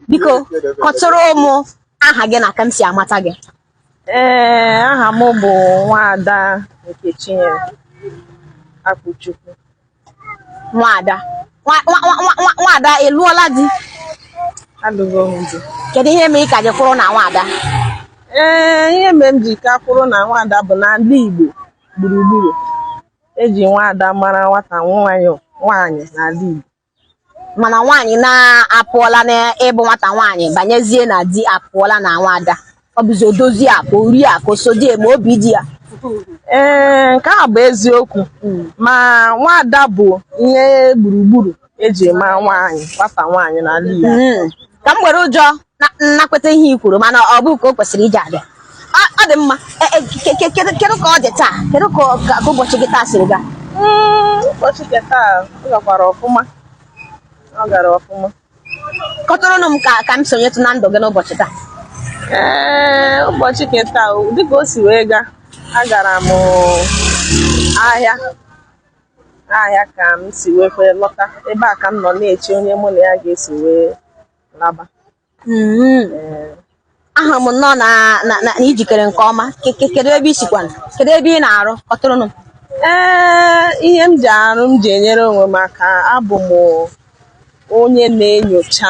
biko kọtụrụ mụ aha gị na ka m si amata gị ee aha m bụ nwaada Nkechinyere akpụchukwu nwaada nwaada ị lụọla di alụgo m di kedu ihe mere ị ka ji kwụrụ na nwaada ee ihe mere m ji ka kwụrụ na nwaada bụ n'ala igbo gburugburu eji nwaada mara nwata nwaanyị nwaanyị n'ala igbo mana nwaanyị na-apụọla n'ịbụ nwata nwaanyị banyezie na di apụọla na nwaada ọ bụzi odozi akụ ori akụ osodieme obi di ya ee nke a bụ eziokwu ma nwaada bụ ihe gburugburu eji ama nwaanyị nwata nwaanyị n'ala Igbo ka m were ụjọ nakweta ihe i kwuru mana ọ bụ ka o kwesịrị ịdị adị ọ dị mma e, e, kedu ka ọ dị taa kedu ka ụbọchị gị taa siri gaa hmm, ụbọchị nke taa ọ gakwara ọfụma ọ gara ọfụma kọtụrụnụ m ka ka m sonyetụ na ndụ gị n'ụbọchị taa ee ụbọchị nke taa dịka o si wee gaa agara m ahịa ahịa ka m si wee kwee lọta ebe a ka m nọ na-eche onye mụ na ya ga-esi wee laba mm-hmm. eh. ahụ m nnọọ na i jikere nke ọma kedu ebe i sikwana kedu ebe ị na-arụ kọtụrụnụ ee eh, ihe m ji arụ m ji enyere onwe m aka abụ m onye na-enyocha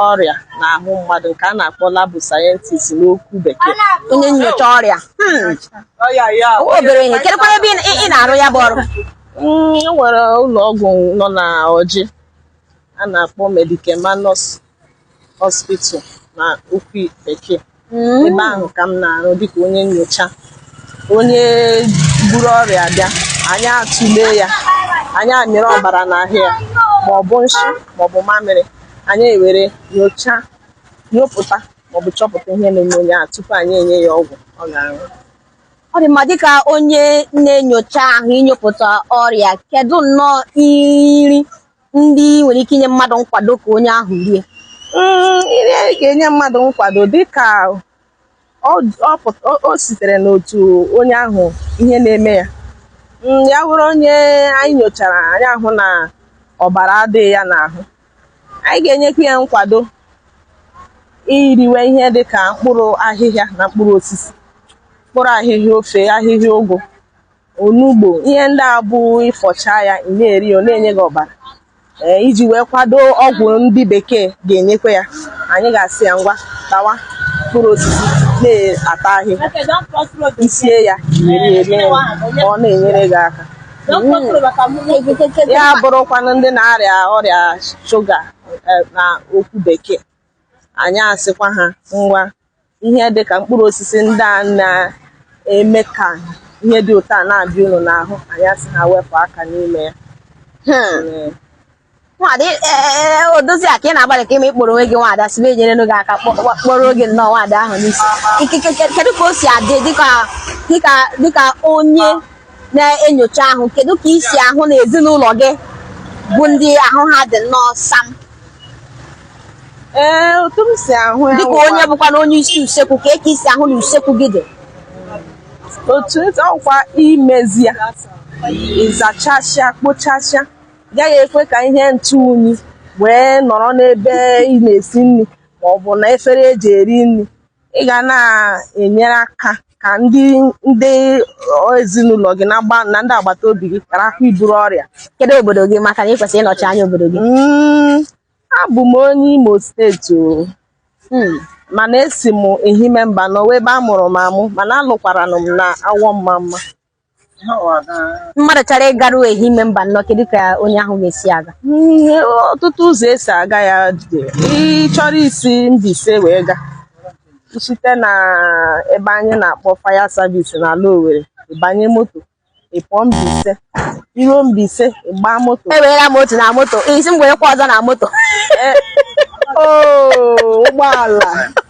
ọrịa n'ahụ mmadụ nke a na-akpọ lab scientist n'okwu bekee onye nyocha ọrịa hmm. obere ihe kedụkwa ebe ị na-arụ ya bụ ọrụ hmm, e nwere ụlọ ọgwụ nọ na ọjị a na-akpọ Medicamanus Hospital na okwu bekee hmm. ebe ahụ ka m na-arụ dịka onye nyocha onye buru ọrịa bịa anyị atụle ya anyị amịrị ọbara n'ahụ ya ma ọ bụ nshi ma ọ bụ mamịrị anyị ewere nyocha nyopụta maọbụ chọpụta ihe na-eme onye ahụ tupu anyị enye ya ọgwụ ọ ga-aṅụ ọ dị mma dịka onye na-enyocha ahụ inyopụta ọrịa kedu nnọọ nri ndị nwere ike inye mmadụ nkwado ka onye ahụ rie Mm, ihe m ga-enye mmadụ nkwado dịka ọ ọ pụt- ọ- o sitere n'otu onye ahụ ihe na-eme ya Mm, ya bụrụ onye anyị nyochara anyị ahụ na ọbara adịghị ya n'ahụ anyị ga-enyekwa ya nkwado iriwe ihe dịka mkpụrụ ahịhịa na mkpụrụ osisi mkpụrụ ahịhịa ofe ahịhịa ụgụ onugbo ihe ndị a bụ ị fọchaa ya ị na-eri ọ na-enye gị ọbara ee iji wee kwado ọgwụ ndị bekee ga-enyekwa ya anyị ga-asị ya ngwa tawa mkpụrụ osisi na-ata ahịhịa i sie ya iri eri ya ọ na-enyere gị aka ya bụrụkwanụ ndị na-arịa ọrịa shuga eh, na okwu bekee anyị asịkwa ha ngwa ihe dị ka mkpụrụ osisi ndị a na-eme ka ihe dị ụtọ a na-abịa unu n'ahụ anyị asị ha wepụ aka n'ime ya Hmm. nwaada ị- e- e- e- odoziakụ ị na-agbalịka ị ma ị kpọrọ onwe gị nwaada si wee nyere gị aka kpọ- kpọ- kpọrọ oge nnọọ nwaada ahụ n'isi Ike- ke- ke- kedu ka o si adị dịka dịka dịka onye na-enyocha ahụ kedu ka i si ahụ na ezinụlọ gị bụ ndị ahụ ha dị nnọọ sam ee otu m si ahụ ya dịka onye wụkwa- bụkwa na onye isi usekwu ka eke i si ahụ na usekwu gị dị otu esi ọkwa imezi ya ị zachasịa kpochasịa gaghị ekwe ka ihe ntụ unyi wee nọrọ n'ebe ị na-esi nri ma ọ bụ na efere eji eri nri ị ga na-enyere aka ka ndị ndị ezinụlọ gị na agba- na ndị agbata obi gị gharakwa iburu ọrịa kedu obodo gị maka na ị kwesịrị ịnọchi anya obodo gị Mm, abụ m onye Imo steeti o Hmm. mana esi m Ehime Mbano wụ ebe a mụrụ m amụ mana alụkwaranụ m na Awọ Ọmamma mmadụ chọrọ ịgaru Ehime Mbano kedu ka onye ahụ ga-esi aga ee ọtụtụ ụzọ esi aga ya dị ị chọrọ isi Mbaise wee ga site na ebe anyị na-akpọ faya savisi na ala Owerri ị banye moto ị pụọ Mbaise i ruo Mbaise ị gbaa moto ewerela m otu na moto ị sị m werekwa ọzọ na moto ụgbọala